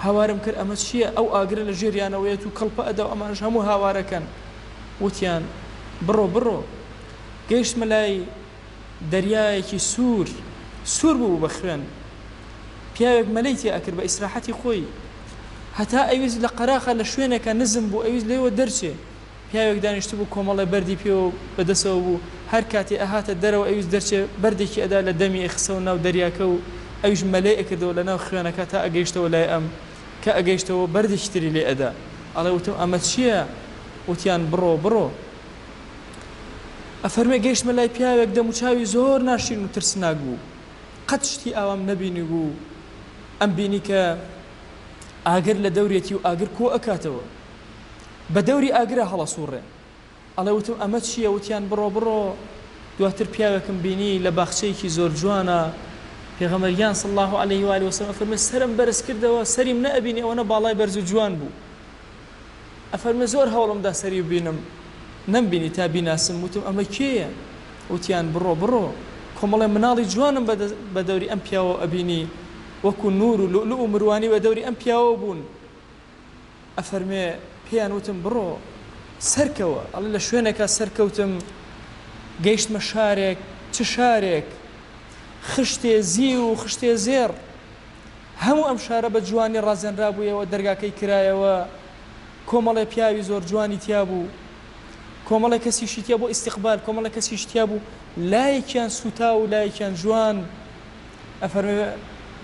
هاوارم کرد ئەمە چییە؟ ئەو ئاگرە لە ژێریانەوەیەت و کڵپە ئەدا و ئەمانەش هەموو هاوارەکەن. وتیان، بڕۆ، بڕۆ. گەیشتمە لای دەریایەکی سوور، سوور بوو بە خوێن. پیاوێک مەلەی تێ ئەکرد بە ئیسراحەتی خۆی. هەتا ئەیویست لە قەراخە لە شوێنێکە نزم بوو ئەیویست لێوە دەرچێ. پیاوێک دانیشتبوو کۆمەڵێ بەردی پێوە بەدەسەوە بوو هەر کاتێ ئەهاتە دەرەوە ئەویست دەرچێ بەردێکی ئەدا لە دەمی ئەیخستەوە ناو دەریاکە و ئەویش مەلەی ئەکردەوە لە ناو خوێنەکە تا ئەگەیشتەوە لای ئەم کە ئەگەیشتەوە بەردێکی تری لێ ئەدا ئەڵێ وتم ئەمە چیە وتیان بڕۆ بڕۆ ئەفەرمێ گەیشتمە لای پیاوێک دەم و چاوی زۆر ناشرین و ترسناک بوو قەت شتی ئاوام نەبینی بوو ئەم بینی کە ئاگر لە دەورێتی و ئاگر کۆ ئەکاتەوە. بە دەوری ئاگرا هەڵەسووڕێن. ئەڵێ وتم ئەمە چییە؟ وتیان بڕۆ بڕۆ. دواتر پیاوێکم بینی لە باخچەیەکی زۆر جوانە. پێغەمبەر گیان صلی اللە علیه و آله و سلم ئەفەرموێ سەرم بەرز کردەوە سەریم نەئەبینی ئەوەنە باڵای بەرز و جوان بوو. ئەفەرموێ زۆر هەوڵم دا سەری ببینم نەمبینی تا بیناسم. وتم ئەمە کێیە؟ وتیان بڕۆ بڕۆ کۆمەڵێ مناڵی جوانم بە دەوری ئەم پیاوە ئەبینی وەکو نوور و لوئلوئ و مروانی بە دەوری ئەم پیاوە بوون. ئەفەرموێ پێیان وتم بڕۆ سەرکەوە، ئەڵێ لە شوێنێکا سەرکەوتم گەیشتمە شارێک، چ شارێک خشتێ زیو و خشتێ زێڕ، هەموو ئەم شارە بە جوانی ڕازێنرابوویەوە، دەرگاکەی کرایەوە، کۆمەڵێ پیاوی زۆر جوانی تیا بوو، کۆمەڵێ کەسیشی تیا بۆ ئیستیقبال، کۆمەڵێ کەسیش تیا بوو لایەکیان سووتاو و لایەکیان جوان، ئەفەرمێ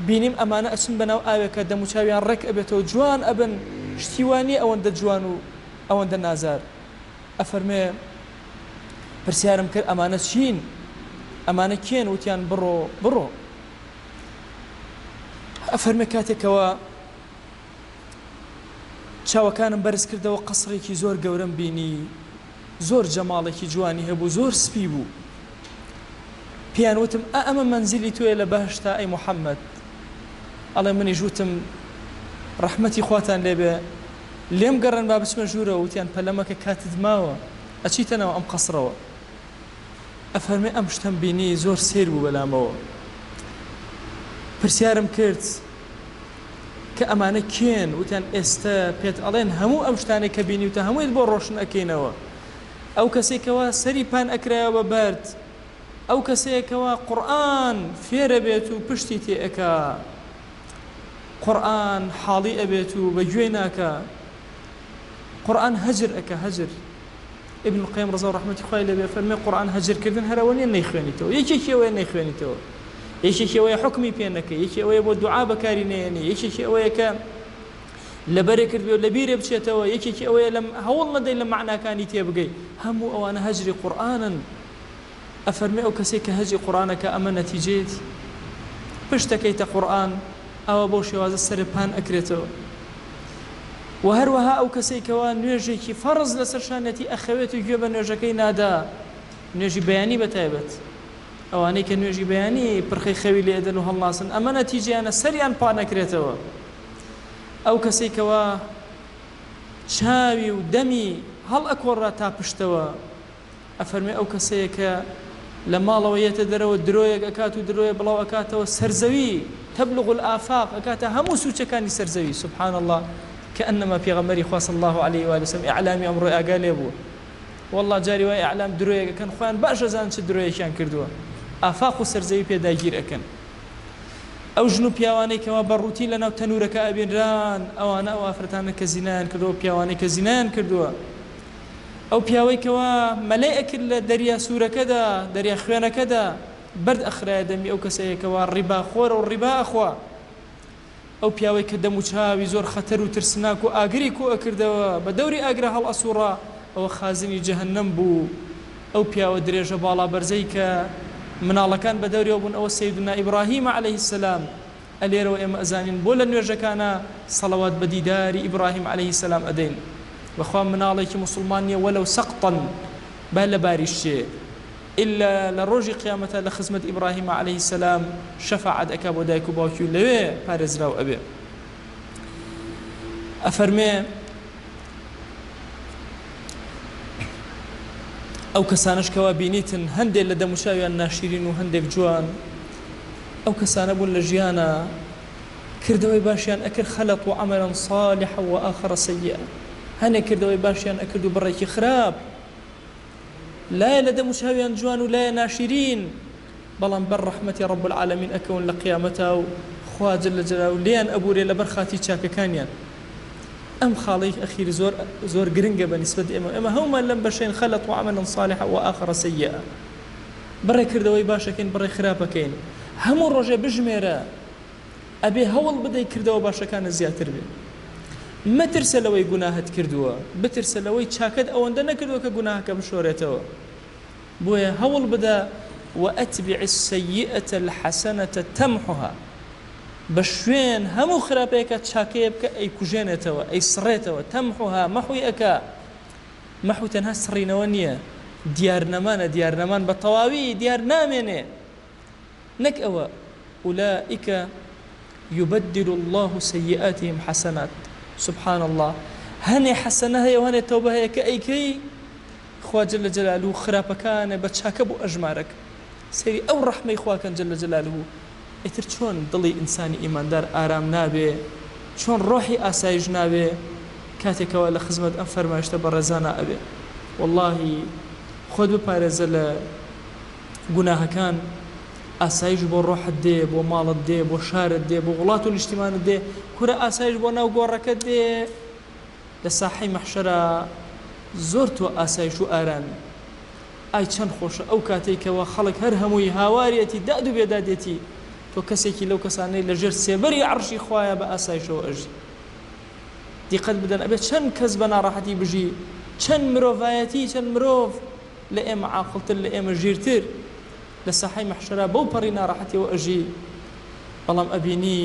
بینیم ئەمانە ئەچن بەناو ئاوێکا دەموچاویان ڕێک ئەبێتەوە جوان ئەبن شتی وا نیە ئەوەندە جوان و ئەوەندە نازار ئەفەرمێ پرسیارم کرد ئەمانە چین ئەمانە کێن وتیان بڕۆ بڕۆ ئەفەرمێ کاتێک کەوا چاوەکانم بەرز کردەوە قەسڕێکی زۆر گەورەم بینی زۆر جەماڵێکی جوانی هەبوو زۆر سپی بوو پێیان وتم ئا ئەمە مەنزیلی تۆیە لە بەهەشتا ئەی محەممەد ئەڵێ منیش وتم ڕەحمەتی خواتان لێبێ لێم گەڕێن با بچمە ژوورەوە وتیان پەلەمەکە کاتت ماوە ئەچیتە ناو ئەم قەسڕەوە ئەفەرمێ ئەم شتەم بینی زۆر سەیر بوو بەلامەوە پرسیارم کرد کە ئەمانە کێن وتیان ئێستە پێت ئەڵێن هەموو ئەم شتانەی کە بینیوتە هەموویت بۆ ڕۆشن ئەکەینەوە ئەو کەسێک کەوا سەری پان ئەکرایەوە بە بەرد ئەو کەسەیە کەوا قورئان فێرە بێت و پشتی تێ ئەکا قورئان حاڵی ئەبێت و بە گوێی ناکە قورئان هەجر ئەکە هەجر ابن القیم رضا و رحمەتی خوای لێبێ فەرموێ قورئان هەجر کردن هەر ئەوە نیە نەیخوێنیتەوە یەکێکی ئەوەیە نەیخوێنیتەوە یەکێکی ئەوەیە حوکمی پێ نەکەی یەکی ئەوەیە بۆ دوعا بەکاری نەیەنی یەکێکی ئەوەیە کە لەبەرێ کردوێ لە بیرێ بچێتەوە یەکێکی ئەوەیە لەم هەوڵ نەدەی لە معناکانی تێبگەی هەموو ئەوانە هەجری قورئانن ئەفەرمێ ئەو کەسەی کە هەجی قوڕانەکا ئەمە نەتیجەیەتی پشت ئەکەیتە قوڕئان ئەوا بەو شێوازە سەرێ پان ئەکرێتەوە وە هەروەها ئەو کەسەی کەوا نوێژێکی فەڕز لەسەر شانیەتی ئەخەوێت و گوێ بە نوێژەکەی نادا نوێژی بەیانی بە تایبەت ئەوانەی کە نوێژی بەیانی پرخەی خەوی لێ ئەدەن و هەڵناسن ئەمە نەتیجەیانە سەریان پان ئەکرێتەوە ئەو کەسەی کەوا چاوی و دەمی هەڵ ئەکۆڕا تا پشتەوە ئەفەرموێ ئەو کەسەیە کە لە ماڵەوە یەتە دەرەوە درۆیەک ئەکات و درۆیە بڵاو ئەکاتەوە سەرزەوی، تبلغ الافاق، ئەکاتە هەموو سوچەکانی سەرزەوی، سبحان اللە، کانما پێغەمبەری خوا صلی اللە علیە و آله وسلم اعلامی ئەمڕۆی ئاگا لێ بوو، واللە جاری وایە اعلام درۆیەک ئەکەن خۆیان باش ئەزانن چ درۆیەکیان کردووە ئافاق و سەرزەوی پێ داگیر ئەکەن. ئەو ژن و پیاوانەی کەوا بە ڕووتین لە ناو تەنورەکە ئەبینران ئەوانە ئەو ئافرەتانەن کە زینایان کردووە و پیاوانەی کە زینایان کردووە، ئەو پیاوەی کەوا مەلەی ئەکرد لە دەریا سورەکەدا دەریا خوێنەکەدا بەرد ئەخرایە دەمی ئەو کەسەیە کەوا ڕیبا خۆرە و ڕیبا ئەخوا ئەو پیاوەی کە دەم و چاوی زۆر خەتەر و ترسناک و ئاگری کۆ ئەکردەوە بە دەوری ئاگرا هەڵ ئەسوڕا ئەوە خازنی جەهەنەم بوو ئەو پیاوە درێژە باڵا بەرزەی کە مناڵەکان بە دەوریەوە بوون ئەوە سەیدونا ئیبڕاهیمە عەلەیهی سەلام ئە لێرەوە ئێمە ئەزانین بۆ لە نوێژەکانا سەڵەوات بە دیداری ئیبڕاهیم عەلەیهی سەلام ئەدەین و خوا مناڵێکی موسڵمان نیە وەلەو سەقطەن با لە باریش چێ ئیلا لە ڕۆژی قیامەتا لە خزمەت ئیبڕاهیمە عەلەیهی سەلام شەفاعەت ئەکا بۆ دایک و باوکی و لەوێ پارێزراو ئەبێ ئەفەرمێ ئەو کەسانەش کەوا بینیتن هەندێک لە دەموچاویان ناشیرین و هەندێک جوان ئەو کەسانە بوون لە ژیانا کردەوەی باشیان ئەکرد خلقو عملا صالحا وآخر سیئا هەنێ کردەوەی باشیان ئەکرد و بڕێکی خراپ لایە لە دەم و چاویان جوان و لایە ناشرین بەڵام بەر ڕەحمەتی رب العالمین ئەکەون لە قیامەتا و خوا جل جلالە لێیان ئەبورێ لەبەر خاتری چاکەکانیان ئەم خاڵەی ئەخیر زۆر زۆر گرنگە بە نیسبەت ئێمە ئێمە هەومان لەم بەشەین خلقو عملا صالحا وآخر سیئا. بڕێ کردەوەی باشەکەین بڕێ خراپەکەین هەموو ڕۆژێ بژمێرە ئەبێ هەوڵ بدەی کردەوە باشەکانە زیاتر بێ مەترسە لەوەی گوناهت کردووە بترسە لەوەی چاکەت ئەوەندە نەکردووە کە گوناهەکە بشۆرێتەوە بۆیە هەوڵ بدە وأتبع السيئة الحسنة تمحها بە شوێن هەموو خراپەیەکە چاکەیە بکە ئەی کوژێنێتەوە ئەی سڕێتەوە تەمحها مەحوی ئەکا مەحو تەنها سڕینەوە نییە، دیارنەمانە، دیارنەمان بە تەواوی دیار نامێنێ. نەک ئەوە، ئولائیک یبدل اللە سیئاتهم حسنات، سبحان اللە، هەنێ حەسەنە هەیە و هەنێ تەوبە هەیە کە ئەیکەی خوا جل جلالە خراپەکانێ بە چاکە بۆ ئەژمارەک. سەیری ئەو ڕەحمەی خوا کەن جل جلالە ئیتر چۆن دڵی ئینسانی ئیماندار ئارام نابێ چۆن ڕۆحی ئاسایش نابێ کاتێ کەوا لە خزمەت ئەم فەرمایشتە بەڕێزانە ئەبێ وەڵاهی خۆت بپارێزە لە گوناهەکان ئاسایش بۆ ڕۆحت دێ بۆ ماڵت دێ بۆ شارت دێ بۆ وڵات و نیشتیمانت دێ کورە ئاسایش بۆ ناو گۆڕەکە دێ لە ساحەی مەحشەرە زۆر تۆ ئاسایش و ئارامی ئای چەند خۆشە ئەو کاتەی کەوا خەڵک هەر هەمووی هاوارێتی داد و بێدادێتی تۆ کەسێکی لەو کەسانەی لە ژێر سێبەری عەڕشی خوایە بە ئاسایشەوە ئەژی دیقەت بدەن ئەبێ چەند کەس بە ناڕەحەتی بژی چەند مرۆڤایەتی چەند مرۆڤ لە ئێمە عاقڵتر لە ئێمە ژیرتر لە ساحەی مەحشەرا بەو پەڕی ناڕەحەتیەوە ئەژی بەڵام ئەبینی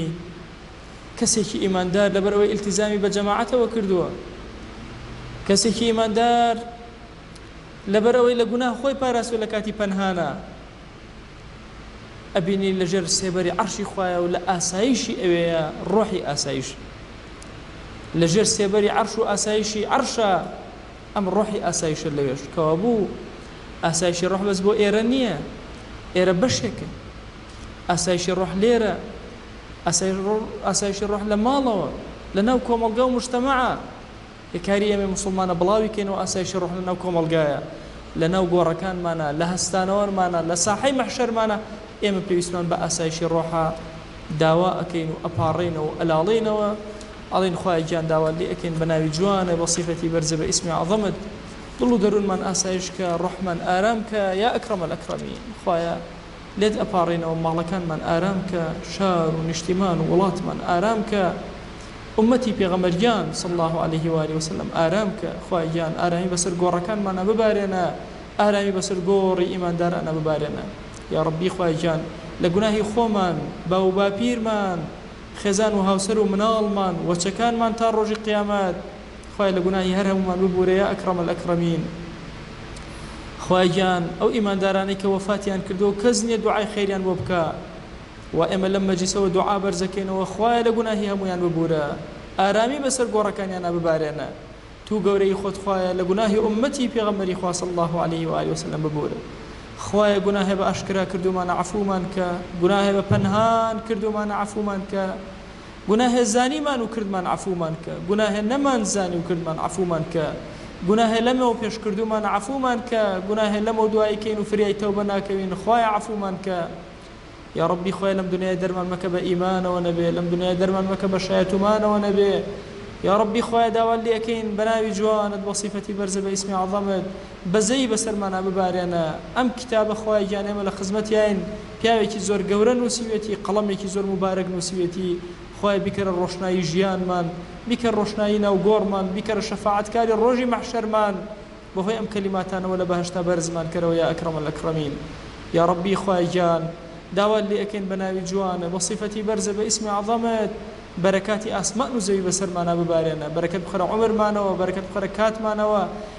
کەسێکی ئیماندار لەبەر ئەوەی ئیلتیزامی بە جەماعەتەوە کردووە کەسێکی ئیماندار لەبەرئەوەی لە گوناه خۆی پاراستوە لە کاتی پەنهانا ئەبینی لە ژێر سێبەری عەرشی خوایە و لە ئاسایشی ئەوێیە ڕۆحی ئاسایش لە ژێر سێبەری عەرش و ئاسایشی عەرشە ئەم ڕۆحی ئاسایشە لەوێش کەوا بوو ئاسایشی ڕۆح بەس بۆ ئێرە نییە ئێرە بەشێکە ئاسایشی ڕۆح لێرە ئاسایشی ڕۆح لە ماڵەوە لە ناو کۆمەڵگا و مشتەمەعە کە کاری ئێمەی موسڵمانە بڵاوی کەینەوە ئاسایشی ڕۆح لە ناو کۆمەڵگایە لە ناو گۆڕەکانمانە لە هەستانەوەرمانە لە ساحەی مەحشەرمانە ئێمە پێویستمان بە ئاسایشی ڕۆحە داوا ئەکەین و ئەپاڕێینەوە و ئەلاڵێینەوە ئەڵێین خوایە گیان داوات لێ ئەکەین بە ناوی جوانە بە سیفەتی بەرزە بە ئیسمی عەزەمت دڵ و دەروونمان ئاسایش کە ڕۆحمان ئارام کە یا ئەکرەمەلئەکرەمین خوایە لێت ئەپاڕێنەوە ماڵەکانمان ئارام کە شار و نیشتیمان و وڵاتمان ئارام کە ئوممەتی پێغەمبەر گیان صلی اللە علیە و آله و سلم ئارام کە خوایە گیان ئارامی بەسەر گۆڕەکانمانا ببارێنە ئارامی بەسەر گۆڕی ئیماندارانا ببارێنە یاڕەبی خوایە گیان لە گوناهی خۆمان باوو باپیرمان خێزان و هاوسەر و مناڵمان وەچەکانمان تا ڕۆژی قیامەت خوایە لە گوناهی هەر هەموومان ببورە یا اکرم الاکرمین خوایە گیان ئەو ئیماندارانەی کە وەفاتیان کردووە کەس نییە دوعای خێریان بۆ بکا وا ئێمە لەم مەجلیسەوە دوعا بەرزەکەینەوە خوایە لە گوناهی هەموویان ببورە ئارامی بەسەر گۆڕەکانیانا ببارێنە توو گەورەیی خۆت خوایە لە گوناهی ئوممەتی پێغەمبەری خوا صلی اللە علیه و آله و سلم ببورە خوایە گوناهێ بە ئاشکرا کردوومانە عەفوومان کە گوناهێ بە پەنهان کردوومانە عەفوومان کە گوناهێ زانیمان و کردمان عەفومان کە گوناهێ نەمان زانی و کردمان عەفومان کە گوناهێ لەمەو پێش کردومان عەفومان کە گوناهێ لەمەو دوایی کەین و فریای تەوبە ناکەوین خوایە عەفومان کە یا ربی خوای لەم دنیای دەرمان مەکە بە ئیمانەوە نەبێ لەم دنیای دەرمان مەکە بە شایەتومانەوە نەبێ یا ربی خوایە داوات لێ ئەکەین بە ناوی جوانت بە سیفەتی بەرزە بە ئیسمی عەزەمت بەزەیی بەسەرمانا ببارێنە. ئەم کیتابە خوایە گیان ئێمە لە خزمەتیاین پیاوێکی زۆر گەورە نوسیوێتی قەڵەمێکی زۆر موبارەک نوسیوێتی خوایە بیکەرە ڕۆشنایی ژیانمان بیکە ڕۆشنایی ناو گۆڕمان بیکەرە شەفاعەت کاری ڕۆژی مەحشەرمان بەهۆی ئەم کەلیماتانەوە لە بەهەشتا بەرزمان کەرەوە یا اکرم الاکرمین یاڕەبی خوایە گیان داوات لێ ئەکەین بە ناوی جوانت بە صیفەتی بەرزت بە اسم اعظمت بەرەکاتی ئاسمان و زەوی بەسەرمانا ببارێنە بەرەکەت بخەرە عومرمانەوە بەرەکەت بخەرە کاتمانەوە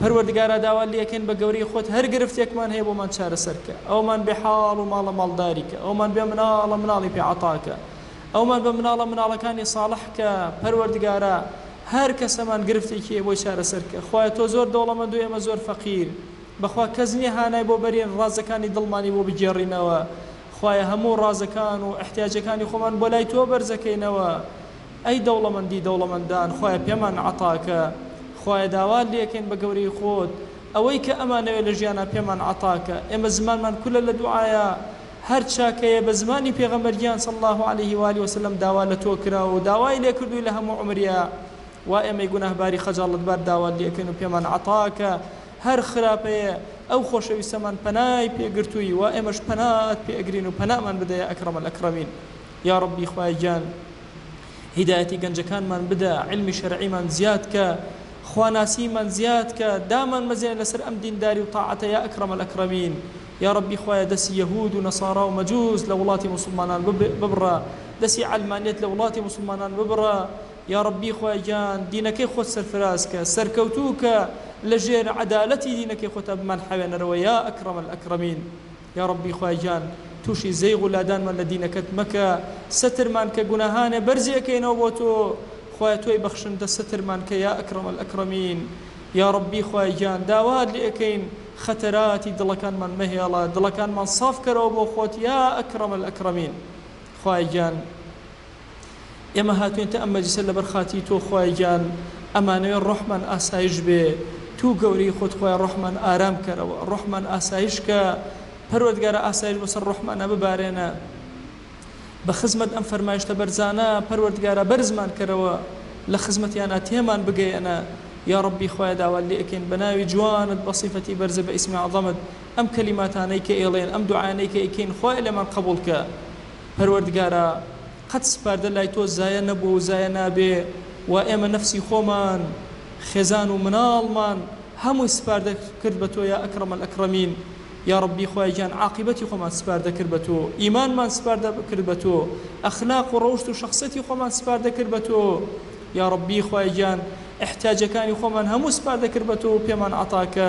پەروەردگارا داوات لێکەین بە گەورەی خۆت هەر گرفتێکمان هەیە بۆمان چارەسەر کە ئەومان بێ حاڵ و ماڵە ماڵداری کە ئەومان بێ مناڵە مناڵی پێ عەتا کە ئەومان بە مناڵە مناڵەکانی صاڵح کە پەروەردگارا هەر کەسەمان گرفتێکی هەیە بۆی چارەسەر کە خوایە تۆ زۆر دەوڵەمەند و ئێمە زۆر فەقیر بەخوا کەس نیە هانای بۆ بەرین ڕازەکانی دڵمانی بۆ بگێڕینەوە خوایە هەموو ڕازەکان و ئیحتیاجەکانی خۆمان بۆ لای تۆ بەرزەکەینەوە ئەی دەوڵەمەندی دەوڵەمەندان خوایە پێمان عەتاکە خوایە داوات لێکەین بە گەورەی خۆت ئەوەی کە ئەمانەوێ لە ژیانا پێمان عەتاکە ئێمە زمانمان کولە لە دوعایا هەر چاکەیە بە زمانی پێغەمبەر گیان صلی اللە علیە و آله وسلم داوا لە تۆ کراوە و داوای لێ کردووی لە هەموو عومریا وا ئێمەی گوناهباری خەجاڵەتبار داوات لێکەین و پێمان عەتاکە هەر خراپەیە ئەو خۆشەویستەمان پەنای پێ گرتووی وا ئێمەش پەنات پێ ئەگرین و پەنامان بدە یا اکرم الاکرمین یاڕەبی خوایە گیان هیدایەتی گەنجەکانمان بدە، عیلمی شەرعیمان زیاد کە، خواناسیمان زیاد کە، دامان مەزێنە لەسەر ئەم دینداری و تاعەتە یا اکرم الاکرمین. یا ربی خوایە دەسی یەهود و نەسارا و مەجوس لە وڵاتی موسڵمانان ببڕە، دەسی عەلمانیەت لە وڵاتی موسڵمانان ببڕە، یا ربی خوایە گیان دینەکەی خۆت سەرفراز کە، سەرکەوتوو کە، لە ژێر عەدالەتی دینەکەی خۆتا بمانحەوێنەرەوە یا اکرم الاکرمین. یاڕەبی خوای گیان توشی زەیغ و لادانمان لە دینەکەت مەکە سەترمان کە گوناهانێ بەرزی ئەکەینەوە بۆ تۆ خوایە تۆی بەخشندە سەترمان کە یا اکرم الاکرمین یاڕەبی خوای گیان داوات لێ ئەکەین خەتەراتی دڵەکانمان مەهێڵە دڵەکانمان ساف کەرەوە بۆ خۆت یا اکرم الاکرمین خوایە گیان ئێمە هاتوینتە ئەم مەجلیسە لەبەر خاتری تۆ خوایە گیان ئەمانەوێ ڕۆحمان ئاسایش بێ توو گەورەی خۆت خوایە ڕۆحمان ئارام کەرەوە ڕۆحمان ئاسایش کە پەروەردگارا ئاسایش بەسەر ڕۆحمانا ببارێنە بە خزمەت ئەم فەرمایشتە بەرزانە پەروەردگارا بەرزمان کەرەوە لە خزمەتیانا تێمان بگەیەنە یا ڕەبی خوایە داوات لێ ئەکەین بە ناوی جوانت بە سیفەتی بەرزە بە ئیسمی عەزەمت ئەم کەلیماتانەی کە ئێڵێن ئەم دوعایانەی کە ئەیکەین خوایە لێمان قەبوڵ کە پەروەردگارا قەت سپاردە لای تۆ زایە نەبووە و زایە نابێ وا ئێمە نەفسی خۆمان خێزان و مناڵمان هەمووی سپاردە کرد بە تۆ یا اکرم الاکرمین یا ربی خوایە گیان عاقیبەتی خۆمان سپاردە کرد بە تۆ ئیمانمان سپاردە کرد بە تۆ ئەخلاق و رەوشت و شەخسەتی خۆمان سپاردە کرد بە تۆ یا ربی خوایە گیان احتیاجەکانی خۆمان هەموو سپاردە کرد بە تۆ و پێمان عەتاکە